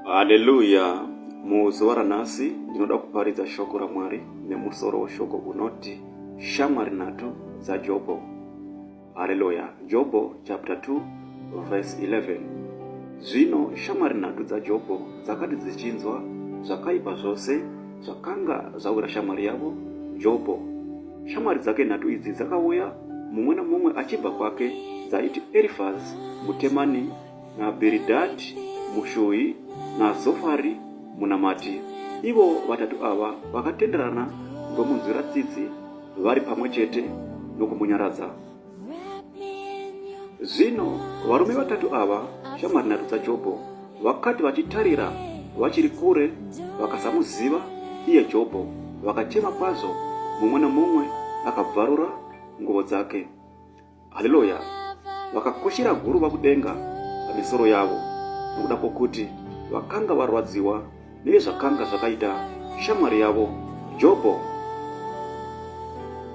haleluya muzuva ranhasi ndinoda kuparidza shoko ramwari nemusoro weshoko unoti shamwari nhatu dzajobho haleluya jobho chapter 2 verse 11 zvino shamwari nhatu dzajobho dzakati dzichinzwa zvakaipa zvose zvakanga zvawira shamwari yavo jobho shamwari dzake nhatu idzi dzakauya mumwe nomumwe achibva kwake dzaiti Erifazi muTemani naBhiridhadhi muShuhi naZofari munamati. Ivo vatatu ava vakatenderana ndomunzwira tsitsi vari pamwe chete nokumunyaradza. Zvino varume vatatu ava shamwari nhatu dzaJobho Vakati vachitarira vachiri kure vakasamuziva iye Jobho, vakachema kwazvo, mumwe nomumwe akabvarura nguvo dzake. Haleluya! Vakakoshera guruva kudenga pamisoro yavo nokuda kwokuti vakanga varwadziwa nezvakanga zvakaita shamwari yavo Jobho.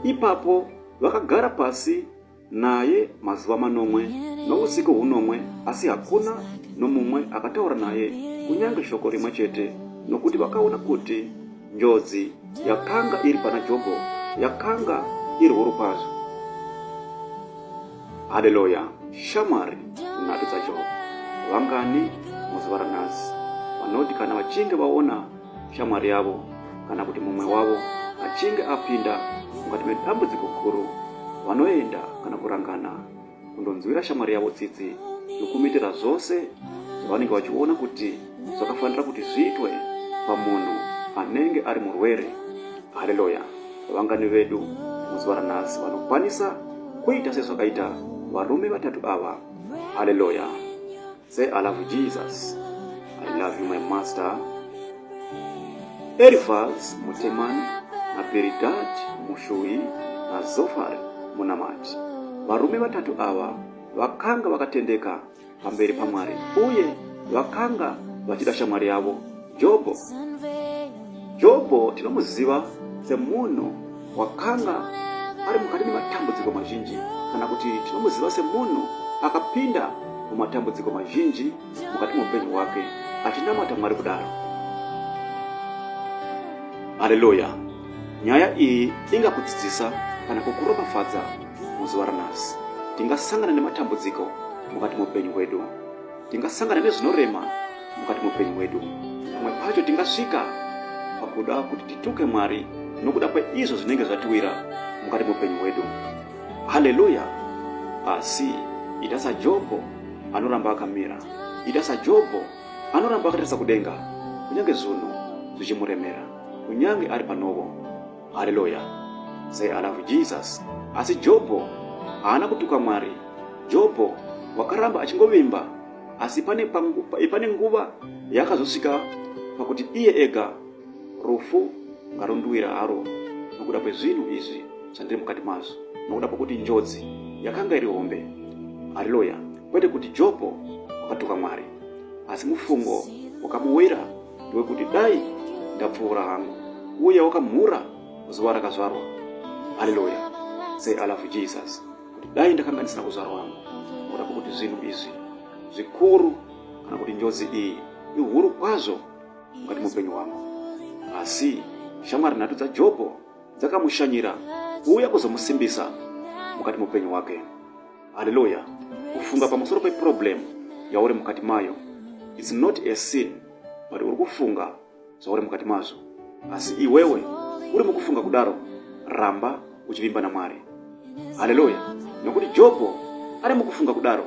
Ipapo vakagara pasi naye mazuva manomwe nousiku hunomwe, asi hakuna nomumwe akataura naye kunyange shoko rimwe chete, nokuti vakaona kuti njodzi yakanga iri pana Jobho yakanga iri huru kwazvo. Haleluya! Shamwari nhatu dzaJobho vangani muzuva ranhasi vanoti kana vachinge vaona shamwari yavo kana kuti mumwe wavo achinge apinda mukati medambudziko guru vanoenda kana kurangana kundonzwira shamwari yavo tsitsi nokumitira zvose zvavanenge vachiona kuti zvakafanira kuti zviitwe pamunhu anenge ari murwere haleluya vangani vedu muzuva ranhasi vanokwanisa kuita sezvakaita varume vatatu ava haleluya Say I love Jesus. I love you my master. Elifaz Muteman na Bildad Mushuhi na Zofar Munamati. Varume vatatu ava vakanga vakatendeka pamberi paMwari uye vakanga vachida shamwari yavo Jobho. Jobho tinomuziva semunhu wakanga ari mukati mematambudziko mazhinji kana kuti tinomuziva semunhu akapinda mumatambudziko mazhinji mukati meupenyu hwake achinamata mwari kudaro haleluya nyaya iyi ingakudzidzisa kana kukuropafadza muzuva ranhasi tingasangana nematambudziko mukati meupenyu hwedu tingasangana nezvinorema mukati muupenyu hwedu pamwe pacho tingasvika pakuda kuti tituke mwari nokuda kweizvo zvinenge zvatiwira mukati muupenyu hwedu haleluya asi ita sajobho anoramba akamira ita sajobho anoramba akatarisa kudenga kunyange zvunhu zvichimuremera kunyange ari panovo haleluya say i love jesus asi jobho haana kutuka mwari jobho wakaramba achingovimba asi pane, pane nguva yakazosvika pakuti iye ega rufu ngarunduwira haro nokuda kwezvinhu izvi zvandiri mukati mazvo nokuda kwokuti njodzi yakanga iri hombe haleluya kwete kuti jobho wakatuka mwari asi mufungo wakamuwira wekuti dai ndapfuura hangu uye wakamhura zuva rakazvarwa haleluya say i love jesus kuti dai ndakanga ndisina kuzvarwa hangu nokuda kwokuti zvinhu izvi zvikuru kana kuti njodzi iyi ihuru kwazvo mukati muupenyu hwangu asi shamwari nhatu dzajobho dzakamushanyira kuuya kuzomusimbisa mukati muupenyu hwake haleluya kufunga pamusoro peproblem yauri mukati mayo its not a sin but uri kufunga zvauri mukati mazvo asi iwewe uri mukufunga kudaro ramba uchivimba namwari haleluya nokuti jobho ari mukufunga kudaro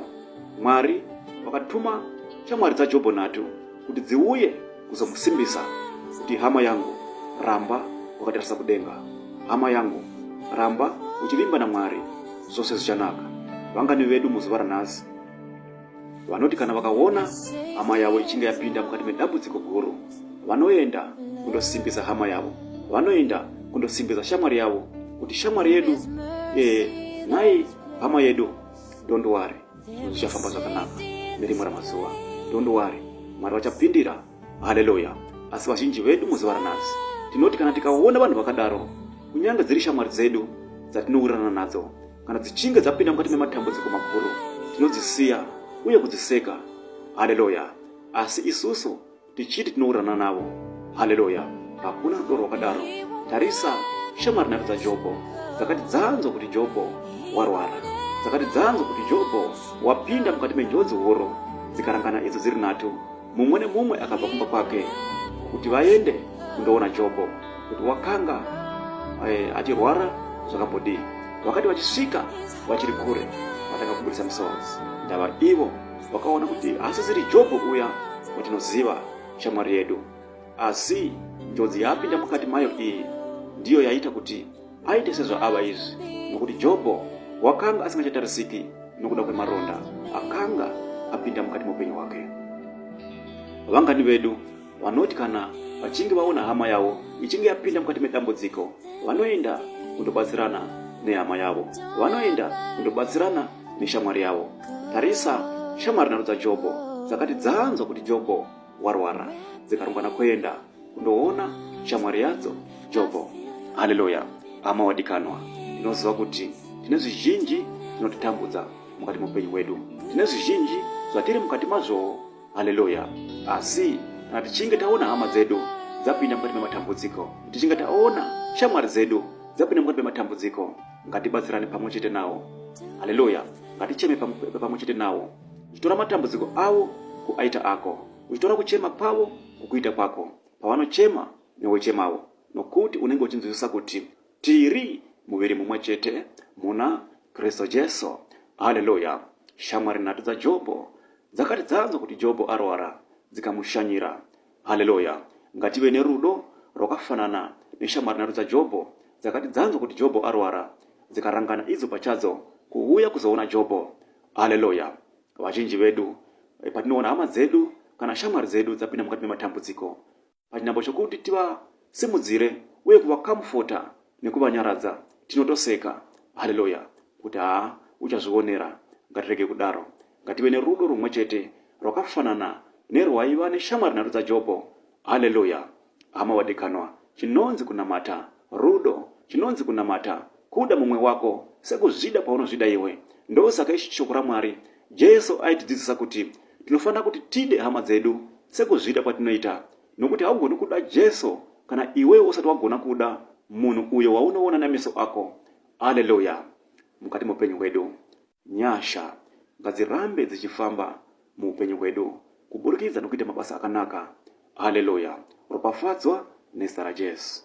mwari vakatuma shamwari dzajobho nhatu kuti dziuye kuzomusimbisa kuti hama yangu ramba wakatarisa kudenga hama yangu ramba uchivimba namwari zvose zvichanaka vangani vedu muzuva ranhasi vanoti kana vakaona hama yavo ichinge yapinda mukati medambudziko guru vanoenda kundosimbisa hama yavo vanoenda kundosimbisa shamwari yavo kuti shamwari yedu ee eh, nhai hama yedu don't worry zvichafamba zvakanaka nerimwe ramazuva don't worry mwari vachapindira haleluya asi vazhinji vedu muzuva ranhasi tinoti kana tikaona vanhu vakadaro kunyange dziri shamwari dzedu dzatinowirirana nadzo kana dzichinge dzapinda mukati mematambudziko makuru tinodzisiya uye kudziseka haleluya asi isusu tichiti tinowirirana navo haleluya hakuna rudo rwakadaro tarisa shamwari nhatu dzajobho dzakati dzanzwa kuti jobho warwara dzakati dzanzwa kuti jobho wapinda mukati menjodzi huru dzikarangana idzo dziri nhatu mumwe nemumwe akabva kumba kwake kuti vaende kundoona jobho kuti wakanga eh, achirwara zvakambodii wakati vachisvika vachiri kure vatanga kuburitsa misodzi ndava ivo vakaona kuti haasisiri jobho uya watinoziva shamwari yedu asi njodzi yaapinda mukati mayo iyi ndiyo yaita kuti aite sezvaava izvi nokuti jobho wakanga asingachatarisiki nokuda kwemaronda akanga apinda mukati meupenyu hwake vangani vedu vanoti kana vachinge vaona hama yavo ichinge yapinda mukati medambudziko vanoenda kundobatsirana nehama yavo vanoenda kundobatsirana neshamwari yavo tarisa shamwari nharo dzajobho dzakati dzanzwa kuti jobho warwara dzikarongana kuenda kundoona shamwari yadzo jobho haleluya hama wadikanwa tinoziva kuti tine zvizhinji zvinotitambudza mukati meupenyu hwedu tine zvizhinji zvatiri mukati mazvowo haleluya asi kana tichinge taona hama dzedu dzapinda mukati mematambudziko tichinge taona shamwari dzedu dzapinda mukati mematambudziko ngatibatsirane pamwe chete nawo haleluya ngaticheme pamwe chete nawo uchitora matambudziko avo kuaita ako uchitora kuchema kwavo kukuita kwako pavanochema newochemawo nokuti unenge uchinzwisisa kuti Tiri muviri mumwe chete muna Kristu Jesu. Haleluya! Shamwari nhatu dzaJobho dzakati dzanzwa kuti Jobho arwara dzikamushanyira. Haleluya! Ngative nerudo rwakafanana neshamwari nhatu dzaJobho dzakati dzanzwa kuti Jobho arwara dzikarangana idzo pachadzo kuuya kuzoona Jobho. Haleluya! Vazhinji vedu eh, patinoona hama dzedu kana shamwari dzedu dzapinda mukati mematambudziko, pachinhambo chokuti tivasimudzire uye kuvakamufota nekuvanyaradza tinotoseka haleluya kuti haa uchazvionera ngatirege kudaro ngative nerudo rumwe chete rwakafanana nerwaiva neshamwari nhatu dzajobho haleluya hama wadikanwa chinonzi kunamata rudo chinonzi kunamata Kuda mumwe wako sekuzvida kwaunozvida iwe. Ndosaka ichi shoko raMwari. Jesu aitidzidzisa kuti tinofanira kuti tide hama dzedu sekuzvida kwatinoita, nokuti haugoni kuda Jesu kana iwewe usati wagona kuda munhu uyo waunoona nameso ako. Aleluya! Mukati meupenyu hwedu, nyasha ngadzirambe dzichifamba muupenyu hwedu kuburikidza nokuita mabasa akanaka. Aleluya! Ropafadzwa nezita raJesu.